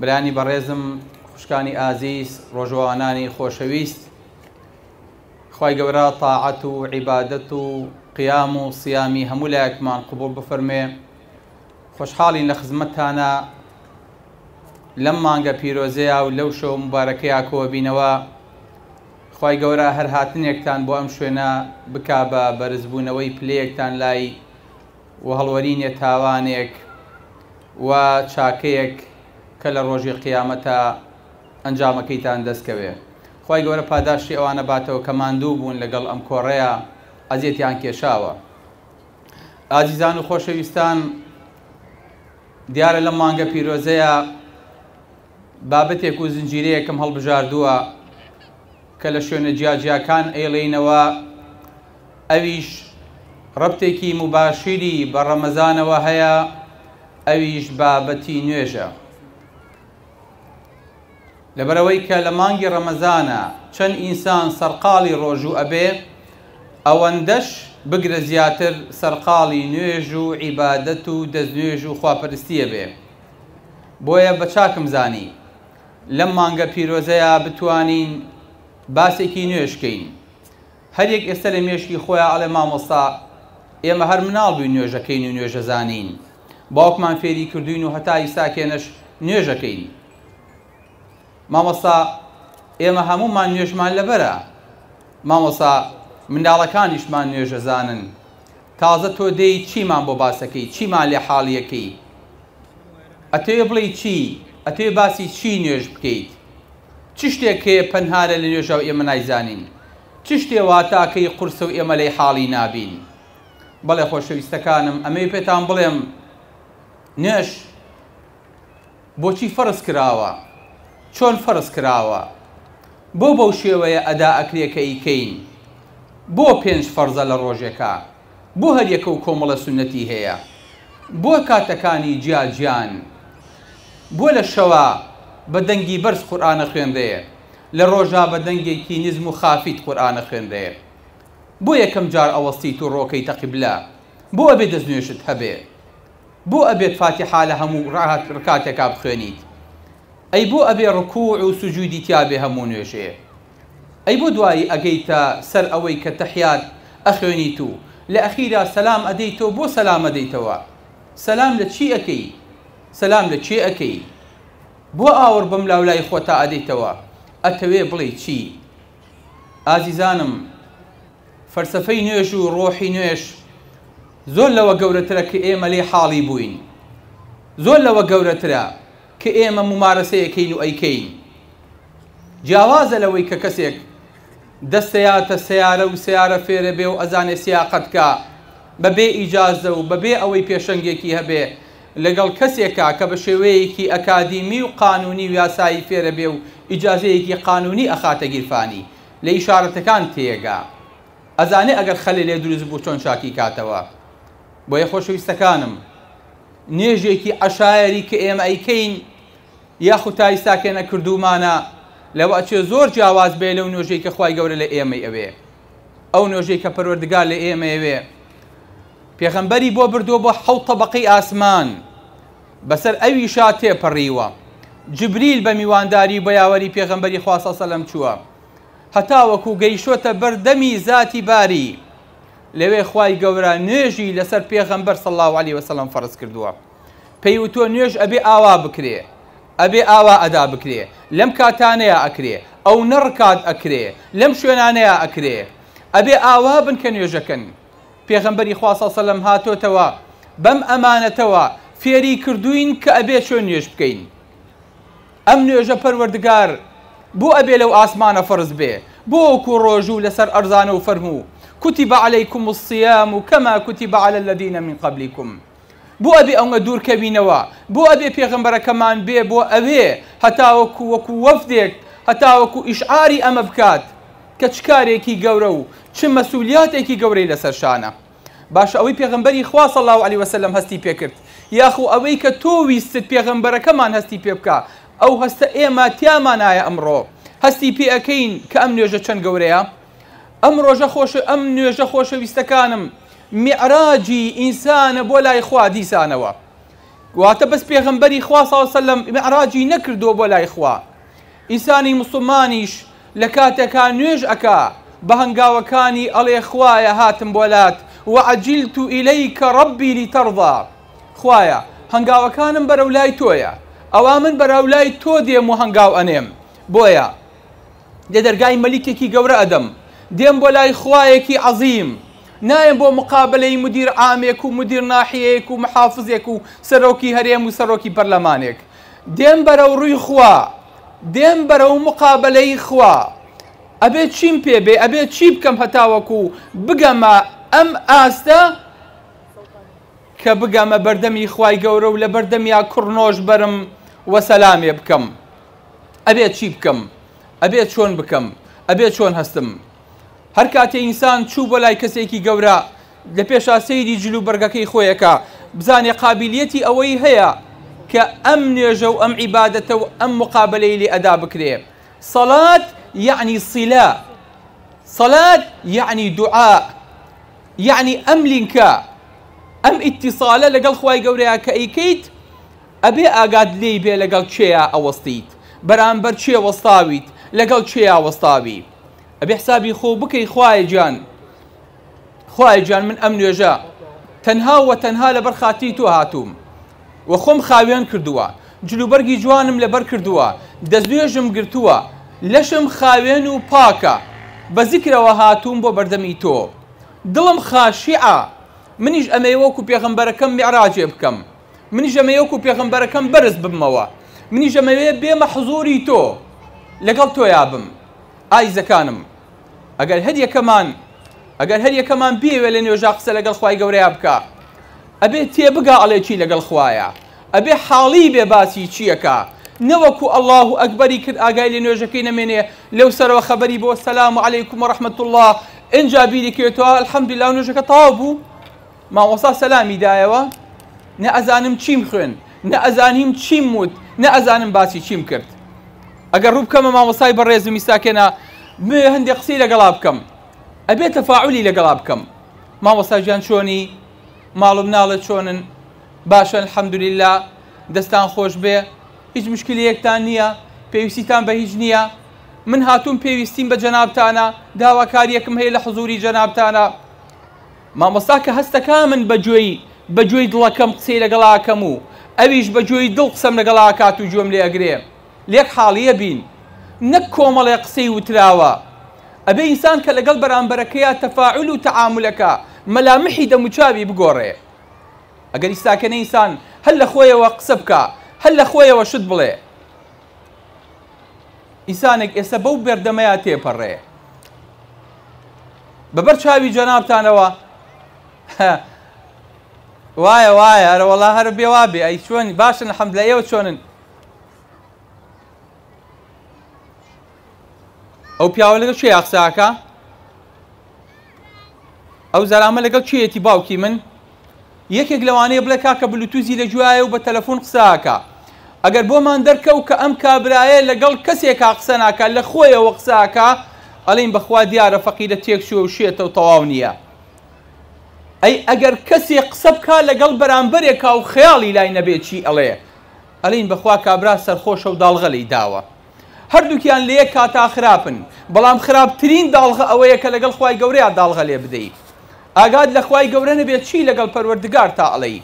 برانی بەڕێزم خوشکانی ئازیز ڕۆژەوانانی خۆشەویست خی گەورە تاعەت و عیبادەت و قیام و سیامی هەموو لایەکمان قوبڵ بفەرمێ خۆشحاڵین لە خزمەتتانە لەم مانگە پیرۆزەیە و لەو شەو مبارەکەیە کۆبینەوە خی گەورە هەر هاتنێکتان بۆ ئەم شوێنە بک بە بەرزبوونەوەی پلەیەکتان لای و هەڵوەرینێ تاوانێک و چاکەیەک کە لە ڕۆژی قیامەتا ئەنجامەکەیتان دەست کەوێ خوای گەورە پاداشتی ئەوانە باتەوە کە ماندوو بوون لە گەڵ ئەم کۆڕەیا ئەزیەتیان کێشاوە ئازیزان و خۆشەویستان دیارە لەم مانگە پیرۆزەیا بابەتێک و زنجیرەیەکم هەڵبژاردووە کە لە شوێنە جیاجیاکان ئەیڵێینەوە، ئەویش ڕەبتێکی موباشیری بە ڕەمەزانەوە هەیە، ئەویش بابەتی نوێژە. لەبەرئەوەی کە لە مانگی ڕەمەزانا چەند ئینسان سەرقاڵی ڕۆژوو ئەبێ، ئەوەندەش بگرە زیاتر سەرقاڵی نوێژ و عیبادەت و دەستنوێژ و خواپەرستی ئەبێ. بۆیە بە چاکم زانی لەم مانگە پیرۆزەیا بتوانین باسێکی نوێش کەین هەریەک ئێستە لە مێشکی خۆیان ئەڵێ مامۆستا ئێمە هەر مناڵ بووین نوێژەکەین و نوێژە زانین باوکمان فێری کردوین و هەتا ئیستاکێنەش نوێژەکەین مامۆستا ئێمە هەموومان نوێژمان لەبەرە مامۆسا منداڵەکانیشمان نوێژەزانن تازە تۆ دێی چیمان بۆ باسەکەی چیمان لێ حاڵیەکەی ئەتەوێ بڵێ چی ئەتەوێ باسی چی نوێژ بکەیت چ شتێک هەیە پەنهارە لە نوێژە و ئێمە نایزانین چ شتێ واتاکەی قورسە و ئێمە لەی حاڵی نابین بەڵێ خۆشەویستەکانم ئەمەی پێتان بڵێم نوێژ بۆچی فەرز کراوە چۆن فەرز کراوە بۆ بەو شێوەیە ئەدا ئەکرێ کە ئیکەین بۆ پێنج فەرزە لە ڕۆژێکا بۆ هەر یەکەو کۆمەڵە سوننەتی هەیە بۆ کاتەکانی جیا جیان بۆ لە شەوا بە دەنگی بەرز قورئان ئەخوێنرێ لە ڕۆژا بە دەنگێکی نزم و خافیت قورئان ئەخوێنرێ بۆ یەکەم جار ئەوەستیت و ڕۆکەیتە قیبلە بۆ ئەبێ دەست نوێژت هەبێ بۆ ئەبێت فاتیحا لە هەموو رکاتێکا بخوێنیت؟ ئەی بۆ ئەبێ رکوع و سجودی تیابێ هەموو نوێژێ؟ ئەی بۆ دوایی ئەگەیتە سەر ئەوەی کە تەحیات ئەخوێنیت و لە ئەخیرا سەلام ئەدەی تۆ بۆ سەلام ئەدەیتەوە؟ سەلام لە چی ئەکەی؟ سەلام لە کێ ئەکەی؟ بۆ ئاوڕ بەملاولای خۆتا ئەدەیتەوە؟ ئەتەوێ بڵێی چی؟ ئازیزانم فەلسەفەی نوێژ و ڕۆحی نوێژ زۆر لەوە گەورەترە کە ئێمە لێ حاڵی بووین زۆر لەوە گەورەترە کە ئێمە ممارەسەیەکەین و ئەیکەین جیاوازە لەوەی کە کەسێک دەستەیاتە سیارە و سیارە فێرە بێ و ئەزانێ سیاقەتکە بەبێ ئیجازە و بەبێ ئەوەی پێشەنگێکی هەبێ لەگەڵ کەسێکا کە بە شێوەیەکی ئەکادیمی و قانونی و یاسایی فێرە بێ و ئیجازەیەکی قانونی ئەخاتە گیرفانی لە ئیشارەتەکان تێگا ئەزانێ ئەگەر خەلێ لێ دروست بوو چۆن چاکی کاتەوە بۆیە خۆشەویستەکانم نوێژێکی عەشایەری کە ئێمە ئەیکەین یاخود تا ئیستا کێ نەکردوومانە لەوە ئەچێ زۆر جیاواز بێ لەو نوێژەی کە خوای گەورە لە ئێمەی ئەوێ ئەو نۆژەی کە پەروەردگار لە ئێمەیەوێ پێغەمبەری بۆ بردووە بۆ حەوت تەبەقەی ئاسمان بەسەر ئەویشا تێپەڕیوە جبریل بە میوانداری و بەیاوەری پێغەمبەری خواسە سەلەم چووە هەتاوەکو گەیشتوەتە بەردەمی زاتی باری لەوێ خوای گەورە نوێژی لەسەر پێغەمبەر سەڵاو علی وسلم فەرز کردووە پێی وتوە نوێژ ئەبێ ئاوا بکرێ ئەبێ ئاوا ئەدا بکرێ لەم کاتانەیا ئەکرێ ئەونە ڕکات ئەکرێ لەم شوێنانەیا ئەکرێ ئەبێ ئاوا بن کە نوێژەکەن پێغەمبەری خوا صلی سەلەم هاتۆتەوە بەم ئەمانەتەوە فێری کردوین کە ئەبێ چۆن نوێژ بکەین ئەم نوێژە پەروەردگار بۆ ئەبێ لەو ئاسمانە فەرز بێ بۆ وەکو ڕۆژوو لەسەر ئەرزانە و فەرموو کتب علیکم الصیام کما کتب علی الذین من قبلکم بۆ ئەبێ ئەونگە دوورکەوینەوە؟ بۆ ئەبێ پێغەمبەرەکەمان بێ بۆ ئەوێ هەتاوەکو وەکو وەفدێک هەتاوەکو ئیشعاری ئەمە بکات کە چ کارێکی گەورە و چ مەسولیاتێکی گەورەی لەسەر شانە؟ باشە ئەوەی پێغەمبەری خوا صلی اللە علیە وسلم هەستی پێ کرد یاخو ئەوەی کە تۆ ویستت پێغەمبەرەکەمان هەستی پێ بکا ئەو هەستە ئێمە تیامانایە ئەمڕۆ هەستی پێ ئەکەین کە ئەم نوێژە چەند گەورەیە؟ ئەم ڕۆژە خۆش ئەم نوێژە خۆشەویستەکانم میعراجی ئینسانە بۆ لای خوا دیسانەوە واتە بەس پێغمبەری خوا ساوسلم میعراجی نەکردو بۆ لای خوا ئینسانی مسلمانیش لە کاتێکا نوێژ ئەکا بە هەنگاوەکانی ئەڵێ خوایە هاتم بۆ لات وعجلت إليك ربي لترضى خوایە هەنگاوەکانم بەرەو لای تۆیە ئەوا من بەرەو لای تۆ دێم و هەنگاو ئەنێم بۆیە لە دەرگای مەلیکێکی گەورە ئەدەم، دێم بۆ لای خوایەکی عەزیم، نایەم بۆ مقابەلەی مودیر عامێک و مودیر ناحیەیەک و محافزێک و سەرۆکی هەرێم و سەرۆکی پەرلەمانێک، دێم بەرەو ڕووی خوا، دێم بەرەو مقابەلەی خوا، ئەبێ چیم پێ بێ، ئەبێ چی بکەم هەتاوەکو بگەمە ئەم ئاستە کە بگەمە بەردەمی خوای گەورە و لەبەردەمیا کوڕنۆش بەرم و سەلامێ بکەم. ئەبێت چی بکەم ئەبێت چۆن بکەم ئەبێت چۆن هەستم هەر کاتێ ئینسان چوو بۆ لای کەسێکی گەورە لە پێشا سەیری جلو بەرگەکەی خۆیەکە بزانێ قابلیەتی ئەوەی هەیە کە ئەم نوێژە و ئەم عیبادەتە و ئەم مقابلەی لێ ئەدا بکرێ سەلات یعنی سیلا سەلات یعنی دوعا یعنی ئەم لینکە ئەم ئیتیساالە لەگەڵ خی گەورەیە کە ئەیکەیت ئەبێ ئاگات لێی بێ لەگەڵ کێیا ئەوەستیت بەرامبەر کێ وەستاویت لەگەڵ کێیا وەستاوی ئەبێ حسابی خۆو بکەی خوایە گیان خوایە گیان من ئەم نوێژە تەنها و تەنها لەبەر خاتری تۆ هاتووم و خۆم خاوێن کردووە جلوبەرگی جوانم لەبەر کردووە دەستنوێژم گرتووە لەشم خاوێن و پاکە بە زیکرەوە هاتووم بۆ بەردەمی تۆ دڵم خاشیعە منیش ئەمەی وەکو پێغەمبەرەکەم میعراجێ بکەم منیش ئەمەوێ وەکو پێغەمبەرەکەم بەرز ببمەوە منیش ئەمەوێ بێمە حزوری تۆ لەگەڵ تۆیا بم ئایزەکانم ئەگەر هەر یەکەمان ئەگەر هەر یەکەمان بیەوێ لە نوێژا قسە لەگەڵ خی گەورەیە بکە ئەبێ تێبگا ئەڵێکی لەگەڵ خوایە ئەبێ حاڵی بێ باسی چییەکە نەوەکو ئەله و ئەکبەری کرد ئاگای لە نوێژەکەی نەمێنێ لەو سەرەوە خەبەری بۆ سەسلام و عیکم و ڕحمەت الله ئەجا بیری کرێتەوە الحەمدلا نوێژەکە تەوا بوو مامۆستا سەلامی دایەوە نە ئەزانم چیم خوێن نە ئەزانیم چیم وت نە ئەزانم باسی چیم کرد ئەگەر ڕوو بکەمە مامۆستای بەڕێزم میساکێنا بێ هەندێک قسەی لەگەڵا بکەم ئەبێ تەفاعلی لەگەڵا بکەم مامۆستا گیان چۆنی ماڵم ناڵە چۆنن باشن حەمدلیلا دەستان خۆش بێ هیچ مشکلەیەکتان نییە پێویستیتان بە هیچ نییە من هاتووم پێویستیم بە جەنابتانە داواکاریەکم هەیە لە حزوری جەنابتانە مامۆستا کە هەستەکا من بە گوێی بە گوێی دڵەکەم قسەی لەگەڵ ئاکەم و ئەویش بە گوێی دڵ قسەم لەگەڵ ئاکات و گوێم لێ ئەگرێ لێک حاڵی ئەبین نەک کۆمەڵێ قسەی وتراوە ئەبێ ئینسان کە لەگەڵ بەرامبەرەکەیا تەفاعول و تەعامول ئەکا مەلامحی دەموچاوی بگۆڕێ ئەگەر ئیستاکێنە ئینسان هەر لە خۆیەوە قسە بکا هەر لە خۆیەوە شت بڵێ ئیسانێک ئێستا بەو بەردەمەیە تێپەڕێ بەبەر چاوی جەنابتانەوە وایە وایە هەرە وڵا هەر بێوا بێ ئەی چۆن باشن حەمد لە ئێوە چۆنن ئەو پیاوە لەگە چێ یاقساکە ئەو زەرامە لەگەڵ کێیەتی باوکی من یەکێک لەوانەیە بڵێ کاکە بلوتوزی لە گوایە و بە تەلەفۆن قساکە ئەگەر بۆمان دەرکەوت کە ئەم کابرایە لەگەڵ کەسێکا قسە ناکە لە خۆیەوە قساکە ئەڵین بەخوا دیارە فەقیرە تێک چوە و شێتە و تەواو نییە ئەی ئەگەر کەسێ قسە بکە لەگەڵ بەرامبەرێکا و خەیاڵی لای نەبێت چی ئەڵێ ئەلین بەخوا کابرا سەرخۆشە و داڵغە لی داوە هەردووکیان لە یەک کاتا خراپن بەڵام خراپترین داڵغە ئەوەیە کە لەگەڵ خوای گەورەیا داڵغە لێ بدەی ئاگات لە خوای گەورە نەبێ چی لەگەڵ پەروەردگارتا ئەڵێی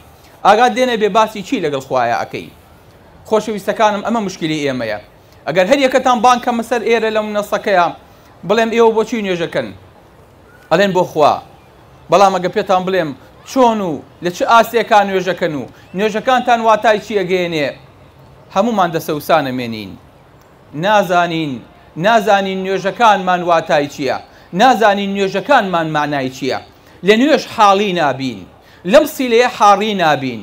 ئاگات لێ نەبێ باسی چی لەگەڵ خوایا ئەکەی خۆشەویستەکانم ئەمە مشکلی ئێمەیە ئەگەر هەر یەکەتان بانگ کەمە سەر ئێرە لەم منەسەکەیە بڵێم ئێوە بۆچی نوێژەکەن ئەڵێن بۆ خوا بەڵام ئەگەر پێتان بڵێم چۆن و لە چ ئاستێکا نوێژەکەن و نوێژەکانتان واتای چی ئەگەیەنێ هەموومان دەسەوسانە مێنین نازانین نازانین نوێژەکانمان واتای چییە نازانین نوێژەکانمان مانای چییە لە نوێژ حاڵی نابین لەم سیلەیە حاڕی نابین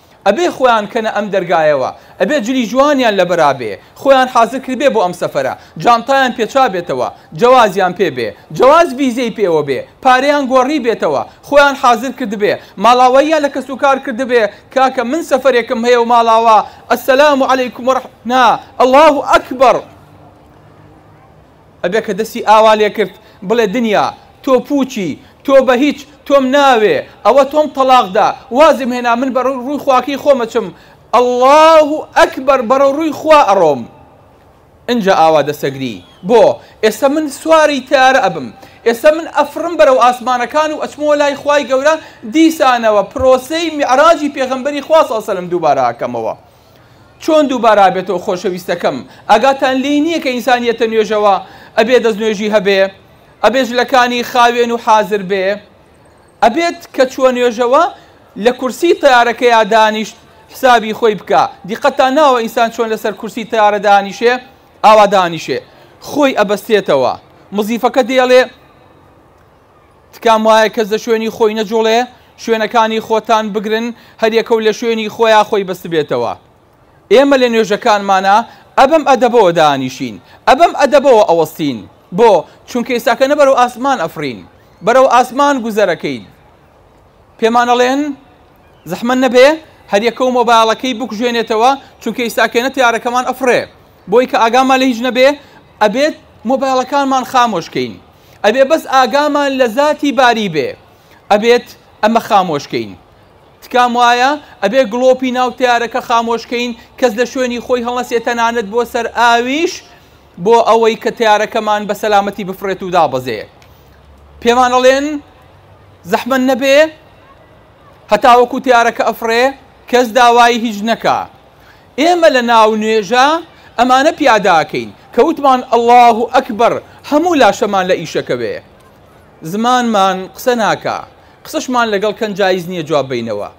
ئەبێ خۆیان کەنە ئەم دەرگایەوە ئەبێ جلی جوانیان لەبەرابێ خۆیان حازر کردبێ بۆ ئەم سەفەرە جانتایان پێچابێتەوە جەوازیان پێ بێ جەواز ڤیزەی پێوە بێ پارەیان گۆڕی بێتەوە خۆیان حازر کردبێ ماڵاواییان لە کەس و کار کردبێ کاکە من سەفەرێکم هەیە و ماڵاوا السلام علیکم ورح نا اللە اکبر. ئەبێ کە دەستی ئاوا لێ کرد بڵێ دنیا تۆ پووچی، تۆ بە هیچ، تۆم ناوێ، ئەوە تۆم تەڵاق دا، وازم هێنا من بە ڕووی ڕووی خواکەی خۆم ئەچم، اللە و اکبر بەڕێو ڕووی خوا ئەڕۆم. ئنجا ئاوا دەسەگری، بۆ؟ ئێستا من سواری تەیارە ئەبم، ئێستا من ئەفڕم بەرەو ئاسمانەکان و ئەچمەوە لای خوای گەورە، دیسانەوە پرۆسەی میعراجی پێغەمبەری خوا صلی اللە علیە وسلم دووبارە ئەکەمەوە. چۆن دووبارە ئابێتەوە خۆشەویستەکەم ئاگاتان لێی نییە کە ئینسان یەتە نوێژەوە ئەبێ دەست نوێژی هەبێ ئەبێ جلەکانی خاوێن و حازر بێ ئەبێت کە چووە نوێژەوە لە کورسی تارەکەیا دانیشت حسابی خۆی بکە دیقەتان ناوە ئینسان چۆن لەسەر کورسی تارە دانیشێ ئاوا دانیشێ خۆی ئەبەستێتەوە مزیفەکە دێڵێ تکام وایە کەس لە شوێنی خۆی نەجوڵێ شوێنەکانی خۆتان بگرن هەریەکەو لە شوێنی خۆیا خۆی بەستبێتەوە ئێمە لە نوێژەکانمانە ئەبەم ئەدەبەوە دانیشین ئەبەم ئەدەبەوە ئەوەستین بۆ چونکە ئێستاکە نە بەرەو ئاسمان ئەفرین بەرەو ئاسمان گوزەرەکەین پێمانەڵێن زەحمە نەبێ هەریەکەو مۆبایلەکەی بکوژێنێتەوە چونکە ئیساکێنە تارەکەمان ئەفرێ بۆی کە ئاگامان لە هیچ نەبێ ئەبێت مۆبایلەکانمان خامۆشکەین ئەبێ بەس ئاگامان لە زاتی باری بێ ئەبێت ئەمە خامۆشکەین تکام وایە ئەبێ گڵۆپی ناو تارەکە خامۆشکەین کەس لە شوێنی خۆی هەڵەسێت تەنانەت بۆ سەر ئاویش بۆ ئەوەی کە تارەکەمان بە سەلامەتی بفرێت و دابەزێ پێمانەڵێن زەحمە نەبێ هەتاوەکو تارەکە ئەفرێ کەس داوای هیچ نەکە ئێمە لە ناو نوێژا ئەمانە پیادا ئەکەین کە وتمان اللە اکبر هەموو لاشەمان لە ئیشەکەوێ زمانمان قسە ناکا قسەشمان لەگەڵ کەن جایز نیە جواب بەینەوە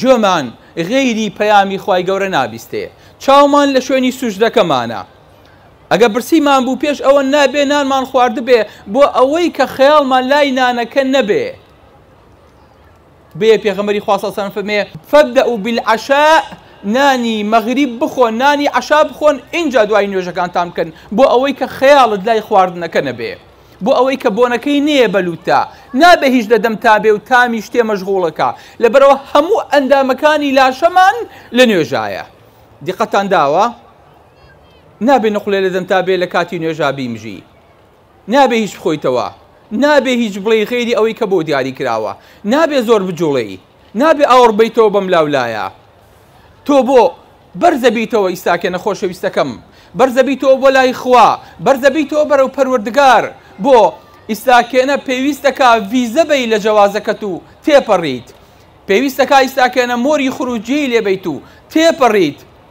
گوێمان غەیری پەیامی خوای گەورە نابیستێ چاومان لە شوێنی سوژدەکەمانە ئەگە برسیمان بوو پێش ئەوە نابێ نانمان خواردبێ بۆ ئەوەی کە خەیاڵمان لای نانەکە نەبێ بێ پێغەمبەری خوا صلی اللە علیە و سلم فەرمێ فبدؤ بالعشاء نانی مەغریب بخۆن نانی عەشا بخۆن ئینجا دوای نوێژەکانتان بکەن بۆ ئەوەی کە خەیاڵت لای خواردنەکە نەبێ بۆ ئەوەی کە بۆنەکەی نێە بەلوتتا نابێ هیچ لە دەم تا بێ و تامی شتێ مەژغوڵەکە لەبەرەوە هەموو ئەندامەکانی لاشەمان لە نوێژایە دیقەتان داوە نابێ نقلێ لە دەم تا بێ لە کاتی نوێژا بیمژی نابێ هیچ بخۆیتەوە، نابێ هیچ بڵێی غەیری ئەوەی کە بۆ دیاری کراوە، نابێ زۆر بجوڵێی، نابێ ئاوڕ بەیتەوە بەم لاو لایە. تۆ بۆ بەرزە بیتەوە ئیستاکێنە خۆشەویستەکەم، بەرزە بیتەوە بۆ لای خوا، بەرزە بیتەوە بەرەو پەروەردگار، بۆ ئیستاکێنە پێویستەکا ڤیزە بەی لە جەوازەکەت و تێپەڕیت، پێویستەکا ئیستاکێنە مۆری خروجیەی لێ بەیت و تێپەڕیت،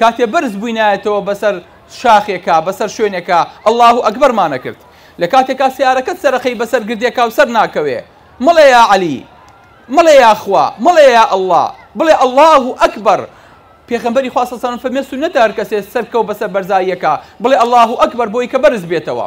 کاتێ بەرز بووینایەتەوە بەسەر شاخێکا، بەسەر شوێنێکا اللە اکبرمان ئەکرد. لە کاتێکا سەیارەکەت سەرەخەی بەسەر گردێکا و سەر ناکەوێ، مەڵێ یا عەلی، مەڵێ یا خوا، مەڵێ یا اللە، بڵێ اللە اکبر. پێغەمبەری خوا صلی اللە علیە وسلم فەرمووێ سوننەتە هەرکەسێ سەرکەوت بەسەر بەرزاییەکا بڵێ اللە اکبر بۆی کە بەرز بێتەوە.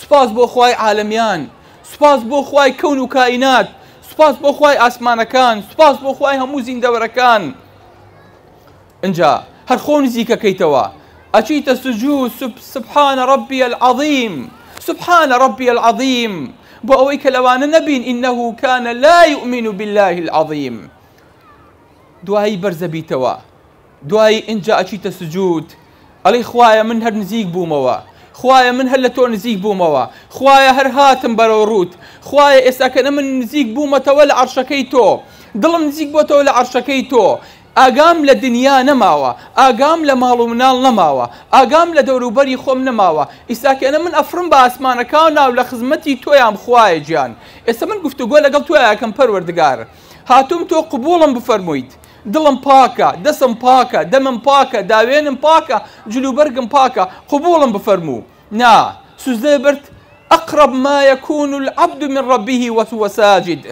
سوپاس بۆ خوای عالەمیان سوپاس بۆ خوای کەون و کائینات سوپاس بۆ خوای ئاسمانەکان سوپاس بۆ خوای هەموو زیندەوەرەکان ئنجا هەر خۆ نزیکەکەیتەوە ئەچیتە سجوو سبحانە ڕبی العظیم سبحانە ڕبی العظیم بۆ ئەوەی کە لەوانە نەبین ئینه کانە لا یؤمن بالله العظیم دوایی بەرزەبیتەوە دوایی ئینجا ئەچیتە سجود ئەڵی خوایە من هەر نزیک بوومەوە خوایە من هەر لە تۆ نزیک بوومەوە خوایە هەر هاتم بەرەو ڕووت خوایە ئێستاکەە من نزیک بوومەتەوە لە عرشەکەی تۆ دڵم نزیک بۆتەوە لە عرشەکەی تۆ ئاگام لە دنیا نەماوە ئاگام لە ماڵ و مناڵ نەماوە ئاگام لە دەوروبەری خۆم نەماوە ئیساکەێنە من ئەفرم بە ئاسمانەکە و ناو لە خزمەتی تۆیان بخوایە گیان ئێستا من گفتوگۆ لەگەڵ تۆیاکەم پەروەردگار هاتووم تۆ قوبوڵم بفەرموویت دڵم پاکە، دەسم پاکە، دەمم پاکە، داوێنم پاکە، جل و بەرگم پاکە، قبووڵم بفەرموو. نا، سوجدە برد، اقرب ما یکون العبد من ربه وهو ساجد،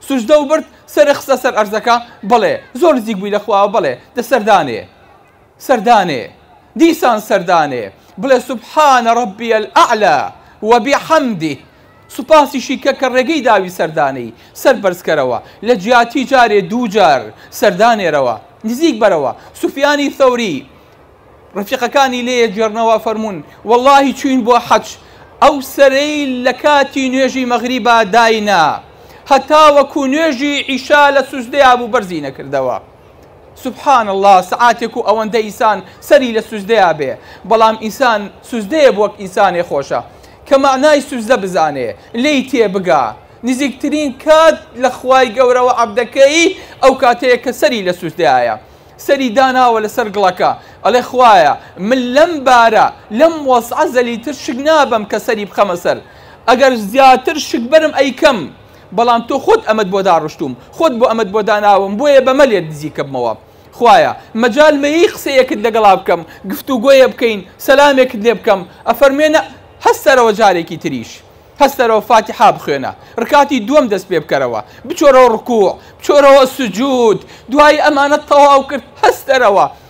سوجدە و برد، سەرت خستە سەر عەرزەکە، بەڵێ، زۆر نزیک بووی لە خواوە، بەڵێ، دەستەردانێ. سەردانێ دیسان سەردانێ بڵێ سبحان ربی الاعلی و بحمده سوپاسیشی کە کە ڕێگەی داوی سەردانێی سەر بەرز کەرەوە لە جیاتی جارێ دوو جار سەردانێرەوە نزیک بەرەوە سوفیانی ثەوری ڕفیقەکانی لێ جێڕنەوە فەرموون واللهی چوین بۆ حەج ئەو سەرەی لە کاتی نوێژی مەغریبا داینا هەتا وەکو نوێژی عیشا لە سوجدەیا بوو بەرزی نەکردەوە سبحان اللە سەعاتێک و ئەوەندە ئیسان سەری لە سوجدەیا بێ بەڵام ئیسان سوجدەیە بۆ وەک ئیسانێ خۆشە کە مەعنای سوجدە بزانێ لێی تێ بگا نزیکترین کات لە خوای گەورەوە عەبدەکەی ئەو کاتەیە کە سەری لە سوجدەیە سەری داناوە لەسەر گڵەکە ئەڵێ خوایە من لەم بارە لەم وەزعە زەلیتر شک نابەم کە سەری بخەمە سەر ئەگەر زیاتر شک بەرم ئەیکەم بەڵام تۆ خۆت ئەمەت بۆ داڕشتووم، خۆت بۆ ئەمەت بۆ داناوم، بۆیە بەمە لێت نزیکبمەوە. خوایە، مەجال مەیەی قسەیەکت لەگەڵا بکەم، گفتوگۆیە بکەین، سەلامێکت لێ بکەم، ئەفەرموێنە، هەستەرەوە جارێکی تریش، هەستەرەوە فاتیحا بخوێنە، ڕکاتی دووەم دەست پێ بکەرەوە، بچۆرەوە ڕکووع، بچۆرەوە سجوود، دوایی ئەمانەت تەواو کرد، هەستەرەوە.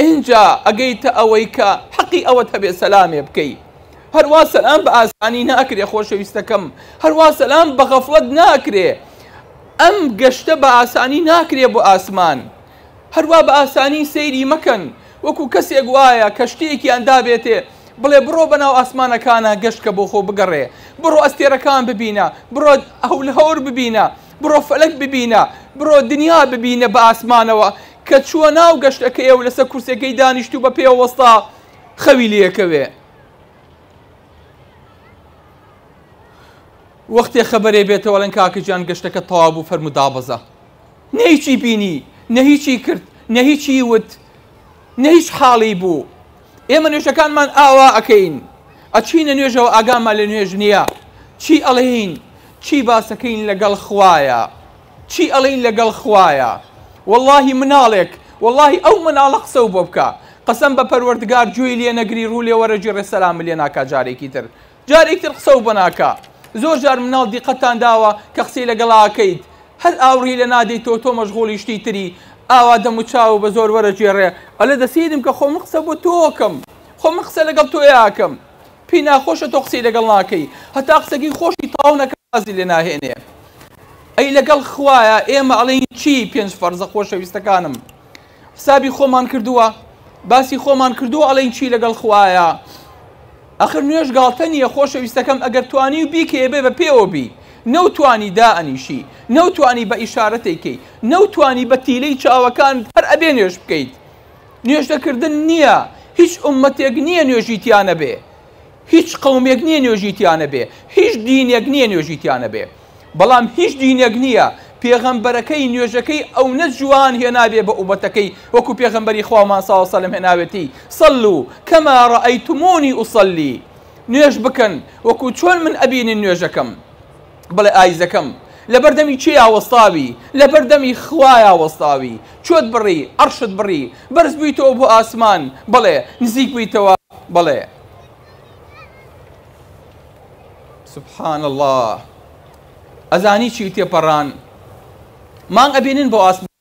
ئینجا ئەگەیتە ئەوەی کە حەقی ئەوەت هەبێ سەلامێ بکەی هەروا سەلام بە ئاسانی ناکرێ خۆشەویستەکەم هەروا سەلام بە غەفڵەت ناکرێ ئەم گەشتە بە ئاسانی ناکرێ بۆ ئاسمان هەروا بە ئاسانی سەیری مەکەن وەکو کەسێک وایە کە شتێکیان دابێتێ بڵێ بڕۆ بەناو ئاسمانەکانە گەشتکە بۆ خۆ بگەڕێ بڕۆ ئەستێرەکان ببینە بڕۆ هەول هەور ببینە بڕۆ فەلک ببینە بڕۆ دنیا ببینە بە ئاسمانەوە کە چووە ناو گەشتەکەیەو لەسەر کورسیەکەی دانیشتو بە پێوە وەستا خەوی لێکەوێ وەختێ خەبەرێ بێتەوەڵێن کاکەجان گەشتەکە تەوا بوو فەرمو دابەزە نەیچی بینی نە هیچی کرد نە هیچی وت نە هیچ حاڵی بوو ئێمە نوێژەکانمان ئاوا ئەەکەین ئەچینە نوێژەوە ئاگامان لە نوێژ نییە چی ئەڵێین چی باسەکەین لەگەڵ خوایە چی ئەڵێین لەگەڵ خوایە وەڵاهی مناڵێک وەڵاهی ئەو مناڵە قسەو بۆ بکا قەسەم بە پەروەردگار گوێی لێ نەگری ڕوو لێ وەرە گێڕێ سەلامت لێ ناکا جارێکی تر جارێکی تر قسەو بۆ ناکا زۆر جار مناڵ دیقەتتان داوە کە قسەی لەگەڵ ئاکەیت هەر ئاوڕی لێ نادەیتەوە تۆ مەشغوڵی شتی تری ئاوا دەموچاوو بە زۆر وەرە گێڕێ ئەڵێ دەسیدم کە خۆ من قسە بۆ تۆکەم خۆ من قسە لەگەڵ تۆیاکەم پێی ناخۆشە تۆ قسەی لەگەڵ ناکەی هەتا قسەکەی خۆشی تەواو نەکا وازی لێ ناهێنێ ئەی لەگەڵ خوایە ئێمە ئەڵێین چی پێنج فەرزە خۆشەویستەکانم حسابی خۆمان کردووە باسی خۆمان کردووە ئەڵێین چی لەگەڵ خوایە ئەخر نوێش گاڵتە نییە خۆشەویستەکەم ئەگەر توانی و بیکەیە بێ بە پێوە بی نەوتانی دائەنیشی نەوتانی بە ئیشارەتێکەی نەوتانی بە تیلەی چاوەکان هەر ئەبێ نوێش بکەیت نوێژنە کردن نییە هیچ ئومەتێک نییە نوێژی تیانە بێ هیچ قومێک نییە نوێژی تیانە بێ هیچ دینێک نییە نوێژی تیانە بێ بەڵام هیچ دینێک نییە پێغەمبەرەکەی نوێژەکەی ئەو نە جوان هێنابێ بە عوبەتەکەی وەکو پێغەمبەری خوامان ساوسە لەم هێناوێتی سەل و کەما ڕئەیتمونی ئوسەلی نوێژ بکەن وەکو چۆن من ئەبینین نوێژەکەم بڵێ ئایزەکەم لەبەر دەمی کێیا وەستاوی لەبەر دەمی خوایا وەستاوی چۆت بڕی عەڕشت بڕی بەرز بوویتەوە بۆ ئاسمان بەڵێ نزیک بوویتەوە بەڵێ سبحان اللە ئەزانی چی تێپەڕان مانگ ئەبینن بۆ ئاسمان.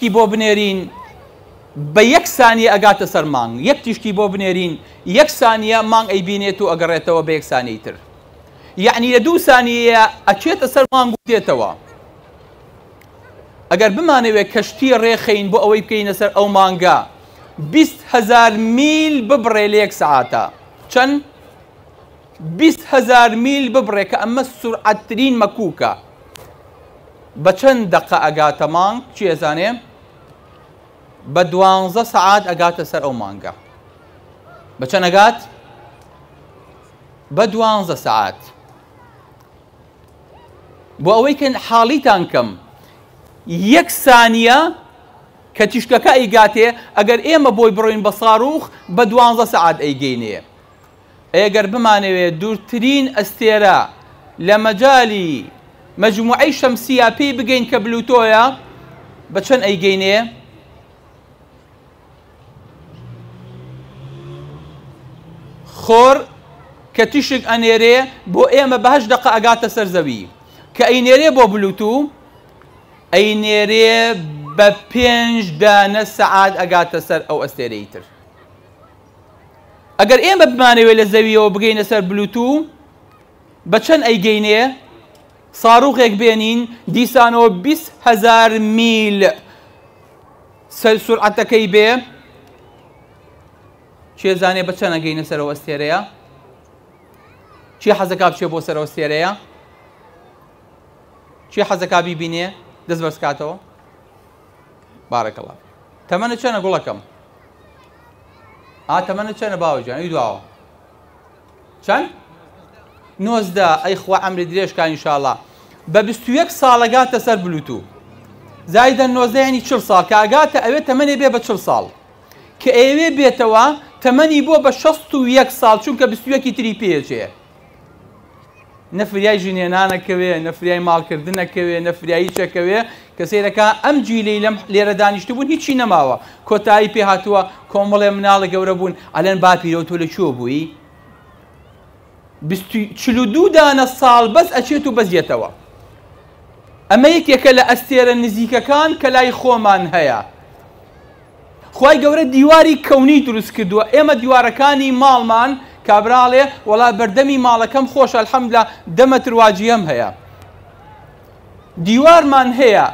ی بۆ بنێرین بە یەک سانیە ئەگاتە سەر مانگ یەک تیشکی بۆ بنێرین یەک سانیە مانگ ئەیبینێت و ئەگەڕێتەوە بە یەک سانیەی تر یەعنی لە دوو سانیەیە ئەچێتە سەر مانگ و دێتەوە ئەگەر بمانەوێت کەشتی ڕێخەین بۆ ئەوەی بکەینە سەر ئەو مانگە بیست هەزار میل ببڕێ لە یەک سەعاتە چەند بیست هەزار میل ببڕێ کە ئەمە سورعەت ترین مەکوکە بە چەند دەقە ئەگاتە مانگ چی ئەزانێ بە دوانزە سەعات ئەگاتە سەر ئەو مانگە بە چەند ئەگات بە دوانزە سەعات بۆ ئەوەی کە حاڵیتان کەم یەک سانیە کە تیشکەکە ئەیگاتێ ئەگەر ئێمە بۆی بڕۆین بە ساروخ بە دوانزە سەعات ئەیگەینێ ئەی گەر بمانەوێت دوورترین ئەستێرە لە مەجالی مەجموعەی شەمسییە پێی بگەین کە بلوتۆیە بە چەند ئەیگەینێ؟ خۆر کە تیشک ئەنێرێ بۆ ئێمە بەهش دقە ئەگاتە سەر زەوی کە ئەی نێرێ بۆ بلوتو ئەی نێرێ بە پێنج دانە سەعات ئەگاتە سەر ئەو ئەستێرەی تر ئەگەر ئێمە بمانەوێت لە زەویەوە بگەینە سەر بلوتو بە چەند ئەیگەینێ ساروخێک بێنین دیسانەوە 20هزار میل سەر سرعەتەکەی بێ چێزانێ بە چەند ئەگەینە سەرەوە ئەستێرەیە چی حەزەکە بچێ بۆ سەرەوە ئەستێرەیە چی حەزەکە بیبینێ دەست بەرزکاتەوە بارەکەڵا تەمەە چەنە گوڵەکەم ئا تەمەنت چەنە باوە گیان ئی دواوە چەند نۆزدە ئەی خوا ئەمری درێژکە ئینشاءاللە بە بیست و یەک ساڵەگاتە سەر بلوتو زایدە نۆزدە یعنی چل ساڵ کە ئەگاتە ئەوێ تەمەنێ بێ بە چل ساڵ کە ئێوێ بێتەوە تەمەنی بۆ بە شەست و یەک ساڵ چونکە بیست و یەکی تری پێچێ نە فریای ژنهێنانەکەوێ نە فریای ماڵکردنەکەوێ نە فریایی چەکەوێ کە سیرەکە ئەم جیلی لەم لێرە دانیشتە بوون هیچی نەماوە کۆتایی پێ هاتووە کۆمەڵێ مناڵە گەورە بوون ئەلەن باپیرەوە تۆ لە چۆ بووی دوو دانە ساڵ بەس ئەچێت و بەزیێتەوە ئەمە یەکێکە لە ئەستێرە نزیکەکان کە لای خۆمان هەیە خوای گەورە دیواری کەونی دروست کردووە ئێمە دیوارەکانی ماڵمان کابراڵێ وەڵا بەردەمی ماڵەکەم خۆش الحمدللە دەمەتر واجیەم هەیە دیوارمان هەیە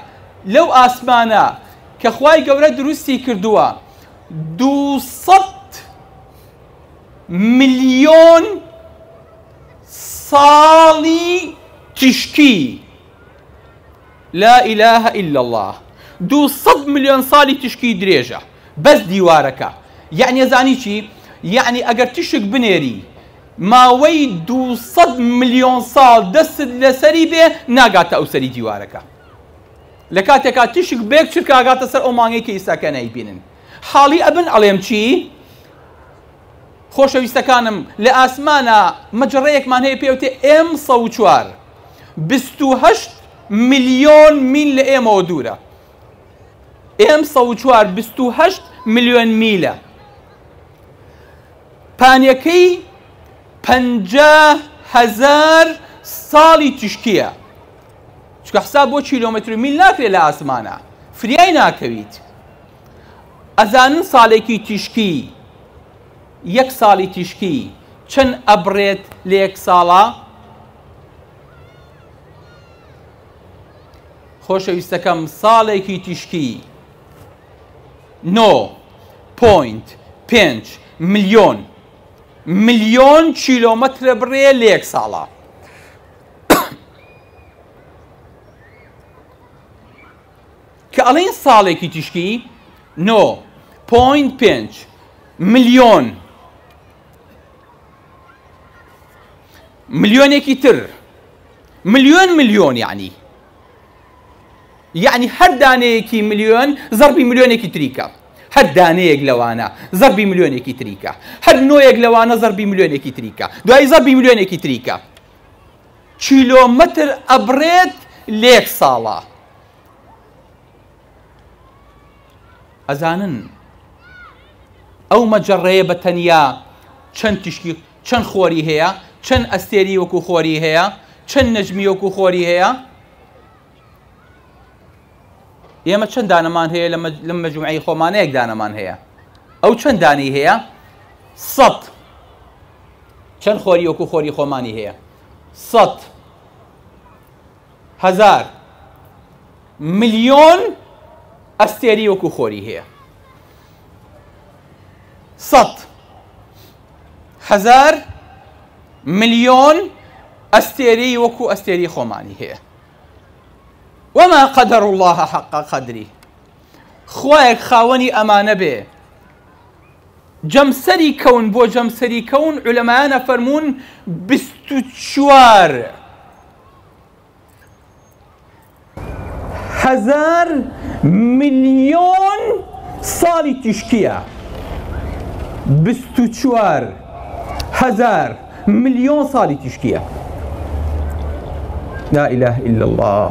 لەو ئاسمانە کە خوای گەورە دروستی کردووە دووسەد ملیۆن ساڵی تیشکی لا الە الا اللە دوو سەد ملیۆن ساڵی تشکی درێژە بەس دیوارەکە یەعنی ئەزانی چی یەعنی ئەگەر تشک بنێری ماوەی دوو سەد ملیۆن ساڵ دەستت لەسەری بێ ناگاتە ئەو سەری دیوارەکە لە کاتێکا تشک بێک چرکە ئەگاتە سەر ئەو مانگەی کە ئیساکە نایبینن حاڵی ئەبن ئەڵێم چی خۆشەویستەکانم لە ئاسمانا مەجەڕەیەکمان هەیە پێ ئەوتێ ئێم سەد و چوار بیست و هەشت ملیۆن میل لە ئێمەوە دوورە ئێم سەد و چوار بیست و هەشت ملیۆن میلە پانیەکەی پەنجا هەزار ساڵی تیشکیە چکە حساب بۆ کیلۆمەتر و میل ناکرێت لە ئاسمانە فریای ناکەویت ئەزانن ساڵێکی تیشکی یەک ساڵی تیشکی چەند ئەبرێت لە یەک ساڵە خۆشەویستەکەم ساڵێکی تیشکی نۆ پوینت پێنج ملیۆن ملیۆن کیلۆمەترە بڕێ لە یەک ساڵە کە ئەڵێن ساڵێکی تیشکی نۆ پۆینت پێنج ملیۆن ملیۆنێکی تر ملیۆن ملیۆن یعنی یعنی هەر دانەیەکی ملیۆن زەربی ملیۆنێکی تریکە هەر دانەیەک لەوانە زەربی ملیۆنێکی تریکە هەر نۆیەک لەوانە زەربی ملیۆنێکی تریکە دوای زەربی ملیۆنێکی تریکە کیلۆمەتر ئەبرێت لێک ساڵە ئەزانن ئەو مەجەڕەیە بە تەنیا چەند تیشکی چەند خۆری هەیە چەند ئەستێری وەکو خۆری هەیە چەند نەجمی وەکو خۆری هەیە ئێمە چەند دانەمان هەیە لە مەجموعی خۆمانەیەک دانەمان هەیە ئەو چەند دانی هەیە سەد چەند خۆری وەکو خۆری خۆمانی هەیە سەد هەزار ملیۆن ئەستێری وەکو خۆری هەیە سەد هەزار ملیۆن ئەستێری وەکو ئەستێری خۆمانی هەیە وەما قەدەر الله حەقا قەدری خوایەک خاوەنی ئەمانە بێ جەمسەری کەون بۆ جەمسەری کەون علەمایانە فەرمونون بیست و چوار هەزار ملیۆن ساڵی تیشکیە چوار هەزار ملیۆن ساڵی تیشکیە لا إله إلا الله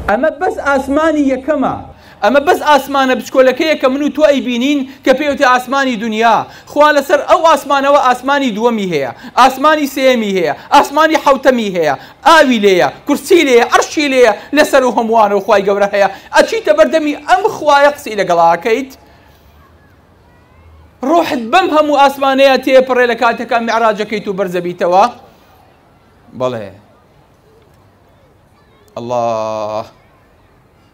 ئەمە بەس ئاسمانی یەکەمە ئەمە بەس ئاسمانە بچکۆلەکەیە کە من و تۆ ئەیبینین کە پێوتی ئاسمانی دونیا، خوا لەسەر ئەو ئاسمانەوە ئاسمانی دووەمی هەیە، ئاسمانی سێیەمی هەیە، ئاسمانی حەوتەمی هەیە، ئاوی لێیە، کورسی لێیە، عەرشی لێیە، لەسەر ئەو هەمووانەوە خوای گەورە هەیە، ئەچیتە بەر دەمی ئەم خوایە قسەی لەگەڵ ئاکەیت؟ ڕۆحت بەم هەموو ئاسمانەیە تێپەڕێ لە کاتەکە میعراجەکەیت و بەرزەبیتەوە؟ بەڵێ. اللە.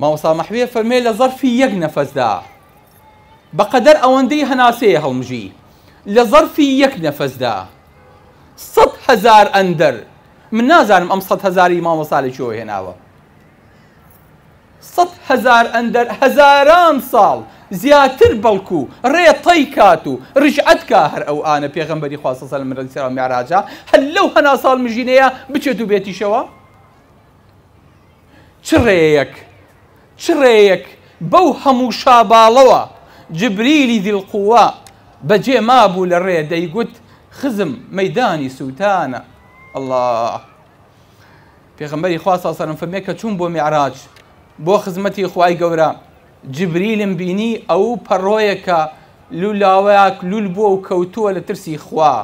مامۆستا مەحوێ فەرمێ لە زەرفی یەک نەفەسدا بەقەدەر ئەوەندەی هەناسەیە هەڵمژی لە زەرفی یەک نەفەسدا سەد هەزار ئەندەر من نازانم ئەم سەد هەزاری مامۆستا لە چۆ هێناوە سەد هەزار ئەندەر هەزاران ساڵ زیاتر بەڵکو ڕێتەی کات و ڕژعەتکە هەر ئەو ئانە پێغەمبەری خواستەسەل مرەسیرا میراجە هەر لەو هەنا ساڵ مژینەیە بچێت و بێتیشەوە چ ڕێیەک چ ڕێیەک بەو هەموو شاباڵەوە جبریلی ذی القوە بەجێ مابوو لە ڕێ دەیگوت خزم مەیدانی سووتانە ئەڵا پێغەمبەری خوا ساسەرم فەرمێ کە چوون بۆ میعراج بۆ خزمەتی خوای گەورە جبریلم بینی ئەو پەڕۆیەکە لولاوەیەک لول بووە و کەوتووە لە ترسی خوا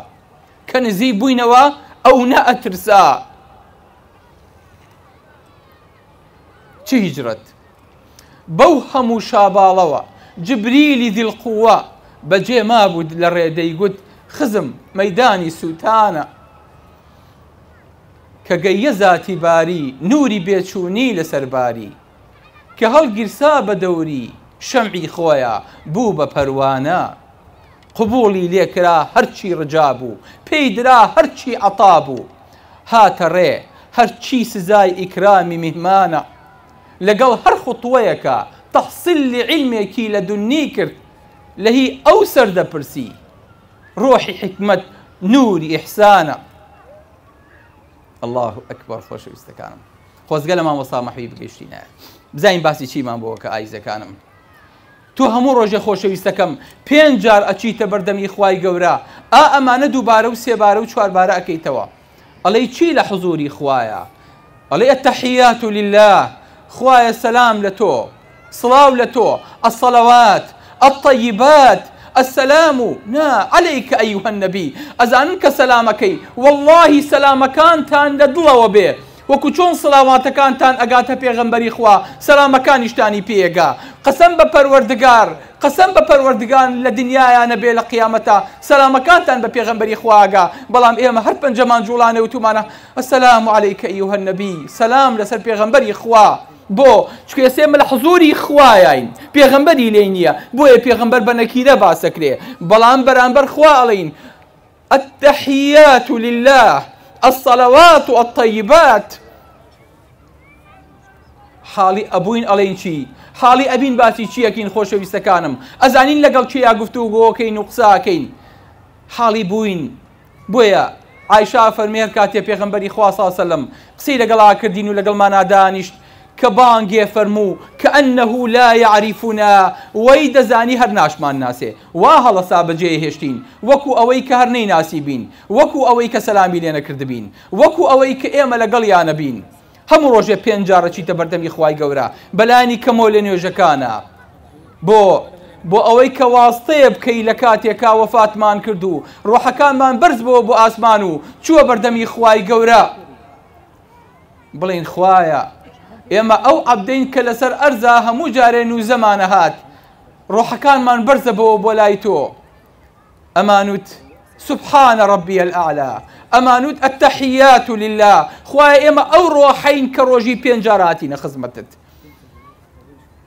کە نزی بووینەوە ئەو نە ئەترسا چ هیجرەت بەو هەموو شاباڵەوە جبریلی ذیلقووە بەجێ مابوو لەڕێ دەیگوت خزم مەیدانی سووتانە کە گەییە زاتی باری نووری بێچوونی لەسەر باری کە هەڵگیرسا بە دەوری شەمعی خۆیە بوو بە پەروانە قبوڵی لێ کرا هەرچی ڕجا بوو، پێی درا هەرچی عەتا بوو، هاتە ڕێ هەرچی سزای ئیکرامی میهمانە، لەگەڵ هەر خوتوەیەکا تەحسیلی عیلمێکی لەدوننی کرد، لە هی ئەو سەر دەپرسی، ڕۆحی حیکمەت نووری ئیحسانە. اللە اکبر خۆشەویستەکانم خۆزگە لە مامۆستا مەحوی بگەشتینایە بزانین باسی چیمان بۆکە ئایزەکانم. تۆ هەموو ڕۆژێ خۆشەویستەکەم پێنج جار ئەچیتە بەردەم ی خوای گەورە ئا ئەمانە دووبارە و سێبارە و چواربارە ئەکەیتەوە ئەڵێی چی لە حزوری خوایە ئەڵێ التحیات للە خوایە سەلام لە تۆ سڵاو لە تۆ الصلوات الطیبات السلام نا علیک ایها النبی ئەزانن کە سەلامەکەی واللهی سەلامەکانتان لە دڵەوە بێ وەکو چۆن سڵاواتەکانتان ئەگاتە پێغەمبەری خوا سەلامەکانیشتانی پێ ئەگا قەسەم بە پەروەردگار قەسەم بە پەروەردگار لە دنیایا نەبێ لە قیامەتا سەلامەکانتان بە پێغەمبەری خوا ئەگا بەڵام ئێمە هەر پەنجەمان جوڵانێ وتومانە السلام علیک ایها النبی سەلام لەسەر پێغەمبەری خوا بۆ؟ چکە ئێسێمە لە حزوری خوایاین پێغەمبەری لێی نیە بۆیە پێغەمبەر بە نەکیرە باسەکرێ بەڵام بەرامبەر خوا ئەڵێین التحیات للە الصلوات الطیبات حاڵی ئەبووین ئەڵێن چی حاڵی ئەبین باسی چیەکەین خۆشەویستەکانم ئەزانین لەگەڵ کێیا گفت و گۆکەین و قساکەین حاڵی بووین بۆیە عیشا فەرمێر کاتێ پێغمبەری خواسەسەلم قسەی لەگەڵا کردین و لەگەڵ مانادانیشت کە بانگێ فەرموو کانه لا یعرفنا وەی دەزانی هەر ناشمان ناسێ وا هەڵەسا بە جێ هێشتین وەکو ئەوەی کە هەر نەیناسیبین وەکو ئەوەی کە سەلامی لێ نەکردبین وەکو ئەوەی کە ئێمە لە گەڵیانە بین هەموو ڕۆژێ پێنج جار ئەچیتە بەردەمی خوای گەورە بە لانی کەمەوە لە نوێژەکانا بۆ بۆ ئەوەی کە واستەیە بکەی لە کاتێکا وەفاتمان کرد و ڕۆحەکانمان بەرز بۆ بۆ ئاسمان و چووە بەردەمی خوای گەورە بڵێن خوایە ئێمە ئەو عەبدەین کە لەسەر ئەرزا هەموو جارێ نووزەمانە هات ڕۆحەکانمان بەرزە بۆ بۆ لای تۆ ئەمانوت سبحان ربی الاعلا ئەمانوت التحیات لله خوای ئێمە ئەو ڕۆحین کە ڕۆژی پێنجاراتینە خزمەتت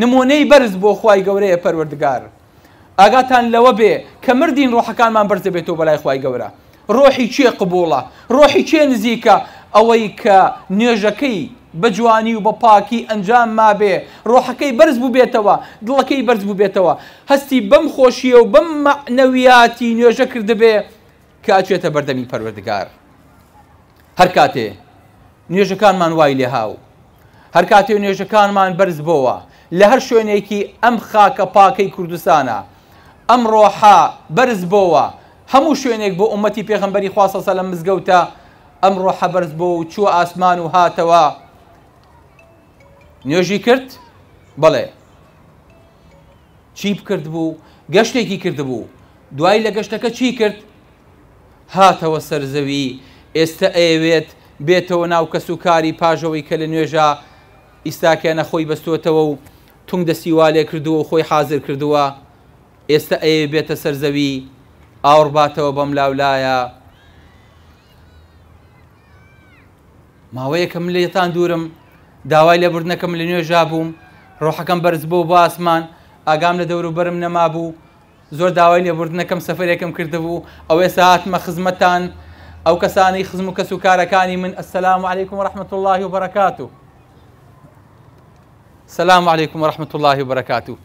نموونەی بەرز بۆ خوای گەورەیە پەروەردگار ئاگاتان لەوە بێ کە مردین ڕۆحەکانمان بەرز دەبێتەوە بەلای خوای گەورە ڕۆحی کێ قبوڵە ڕۆحی کێ نزیکە ئەوەی کە نوێژەکەی بە جوانی و بە پاکی ئەنجام مابێ ڕۆحەکەی بەرز بووبێتەوە دڵەکەی بەرز بووبێتەوە هەستی بەم خۆشیە و بەم مەعنەویاتی نوێژە کردبێ کە ئەچێتە بەردەمی پەروەردگار هەر کاتێ نوێژەکانمان وای لێها و هەر کاتێ نوێژەکانمان بەرز بۆوە لە هەر شوێنێکی ئەم خاکە پاکەی کوردستانە ئەم ڕۆحە بەرز بۆوە هەموو شوێنێک بۆ ئومەتی پێغمبەری خواسەسە لە مزگەوتە ئەم ڕۆحە بەرز بۆ و چووە ئاسمان و هاتەوە نوێژی کرد بەڵێ چی بکرد بوو گەشتێکی کرد بوو دوای لە گەشتەکە چی کرد هاتەوە سەر زەوی ئێستە ئەیەوێت بێتەوە ناو کەس و کاری پاژەوەی کە لە نوێژا ئیستاکێنە خۆی بەستۆتەوە و تونگ دەستی والێ کردووە و خۆی حازر کردووە ئێستە ئەیەوێت بێتە سەر زەوی ئاوڕ باتەوە بەم لاولایە ماوەیەکە من لێتان دوورم داوای لە بردنەکەم لە نوێژا بووم ڕۆحەکەم بەرز بۆ بۆ ئاسمان ئاگام لە دەوروبەرم نەمابوو زۆر داوای لێبوردنەکەم سەفەرێکم کردبوو ئەو ئێستا هاتمە خزمەتتان ئەو کەسانەی خزم و کەس و کارەکانی من السلام علیکم و رحمت الله و بەرەکات و سلام علیکم و رحمت الله و بەرەکات و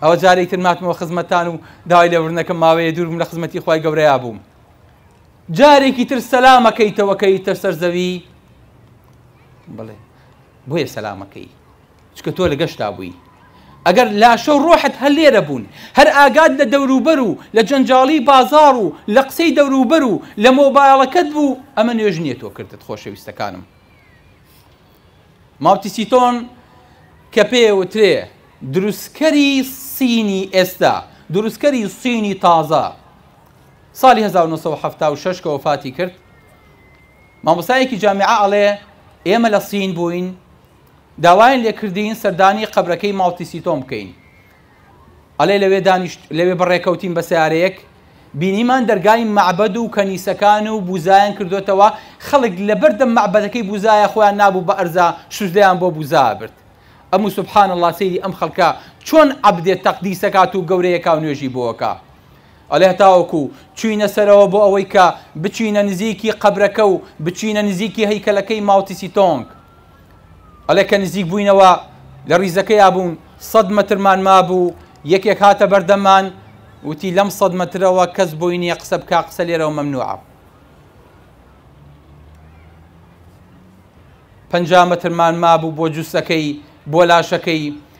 ئەوە جارێک تر ماتمەوە خزمەتتان و داوای لێبوردنەکەم ماوەیە دوورم لە خزمەتی خی گەورەیا بووم جارێکی تر سەلامەکەیتەوەکەی تەر سەر زەوی بڵێ بۆیە سەلامەکەی چونکە تۆ لە گەشتا بووی ئەگەر لاشە و ڕۆحت هەر لێرە بوون هەر ئاگات لە دەوروبەر و لە جەنجاڵی بازاڕ و لە قسەی دەوروبەر و لە مۆبایەڵەکەت بوو ئەمە نوێژ نییە تۆ کردت خۆشەویستەکانم ماوتیسیتۆن کە پێوترێ دروستکەری سینی ئێستا دروستکەری سینی تازە ساڵی 1970 کە وفاتی کرد مامۆسایەکی جامیعە ئەڵێ ئێمە لە سین بووین داوایان لێکردین سەردانی قەبرەکەی ماوتی سیتۆم بکەین ئەلێ لەوێ دانیشت لەوێ بەڕێکەوتین بە سیارەیەک بینیمان دەرگای مەعبەد و کەنیسەکان و بوزایان کردوێتەوە خەڵک لەبەردەم مەعبەدەکەی بوزایە خۆیان نابوو بە ئەرزا شوزلیان بۆ بوزا برد ئەمو سبحان الله سەیری ئەم خەڵکە چۆن عبدێ تەقدیسەکات و گەورەیەکاو نوێژی بۆەکە ئەلێ هەتاوەکو چوینە سەرەوە بۆ ئەوەی کە بچینە نزیکی قەبرەکە و بچینە نزیکی هەیکەلەکەی ماوتیسی تۆنگ ئەڵێ کە نزیک بووینەوە لە ڕیزەکەیا بوون سەد مەترمان مابوو یەکێک هاتە بەردەمان وتی لەم سەد مەترەوە کەس بۆی نییە قسە بک قسە لێرەوە مەمنوعە پنج مەترمان مابوو بۆ جووسەکەی بۆ لاشەکەی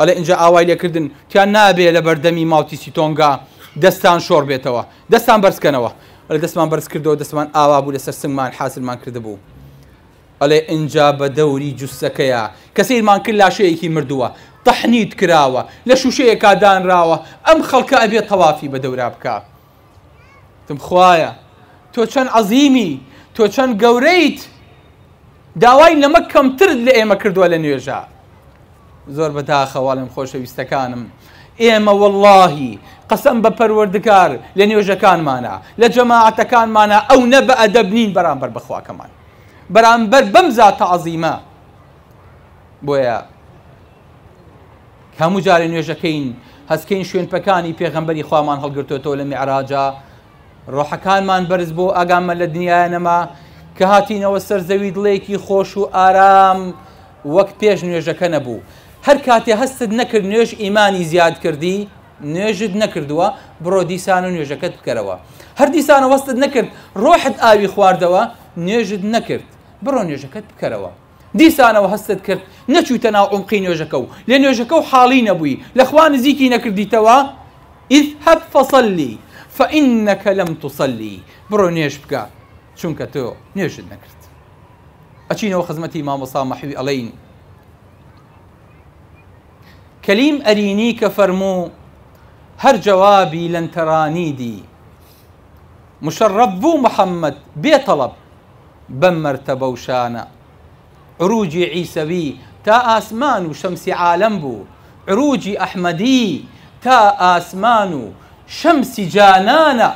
ئەڵێ ئینجا ئاوای لێ کردن تیان نابێ لە بەردەمی ماوتی سیتۆنگا دەستان شۆڕ بێتەوە دەستان بەرز کەنەوە ئەلێ دەستمان بەرز کردەوە دەستمان ئاوا بوو لەسەر سنگمان حازرمان کردبوو ئەلێ ئینجا بە دەوری جوسەکەیە کە سیرمان کرد لاشەیەکی مردووە تەحنیت کراوە لە شوشەیەکا دانراوە ئەم خەڵکە ئەبێ تەوافی بە دەورا بکا تم خوایە تۆ چەند عەزیمی تۆ چەند گەورەیت داوای لەمە کەمترت لە ئێمە کردووە لە نوێژە زۆر بەداخەواڵم خۆشەویستەکانم ئێمە واللهی قەسم بە پەروەردگار لە نوێژەکانمانە لە جەماعەتەکانمانە ئەو نە بە ئەدەب نین بەرامبەر بەخواکەمان بەرامبەر بەم زاتە عەزیمە بۆیە هەموو جارێ نوێژەکەین هەستکەین شوێن پەکانی پێغەمبەری خوامان هەڵگرتوێتەوە لە میعراجا ڕۆحەکانمان بەرز بۆ ئاگامە لە دنیاە نەما کە هاتینەوە سەر زەوی دڵێکی خۆش و ئارام وەک پێش نوێژەکە نەبوو هەر کاتێ هەستت نەکرد نوێژ ئیمانی زیاد کردی نوێژت نەکردووە بڕۆ دیسان و نوێژەکەت بکەرەوە هەر دیسانە وەستت نەکرد ڕۆحت ئاوی خواردەوە نوێژت نەکرد بڕۆ نوێژەکەت بکەرەوە دیسانەوە هەستت کرد نەچوویتە ناو عومقی نوێژەکە و لە نوێژەکە و حاڵی نەبووی لەخوا نزیکی نەکردیتەوە اذهب فصلی فإنك لم تصلي بڕۆ نوێژ بکە چونکە تۆ نوێژت نەکرد ئەچینەوە خزمەتی مامۆسا مەحوی ئەڵین کەلیم ئەرینی کە فەرموو هەر جوابی لەنتەرانی دی مشرب بوو محەممەد بێ تەڵب بەم مەرتەبە و شانە. عروجی عیسەوی تا ئاسمان و شەمسی عالەم بوو، عروجی ئەحمەدی تا ئاسمان و شەمسی جانانە،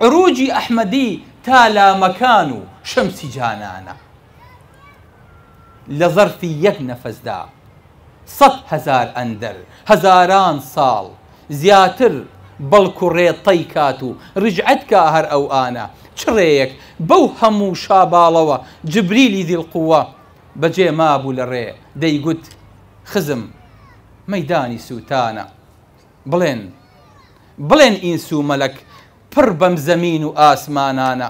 عروجی ئەحمەدی تا لامەکان و شەمسی جانانە. لە زەرفی یەک نەفەسدا سەد هەزار ئەندەر هەزاران ساڵ زیاتر بەڵکو ڕێ طەی کات و رجعت کا هەر ئەو ئانە چ ڕێیەک بەو هەموو شاباڵەوە جبریلی ذی القوە بە جێ مابوو لە ڕێ دەیگوت خزم مەیدانی سووتانە بڵێن بڵێن ئینس و مەلەک پڕ بەم زەمین و ئاسمانانە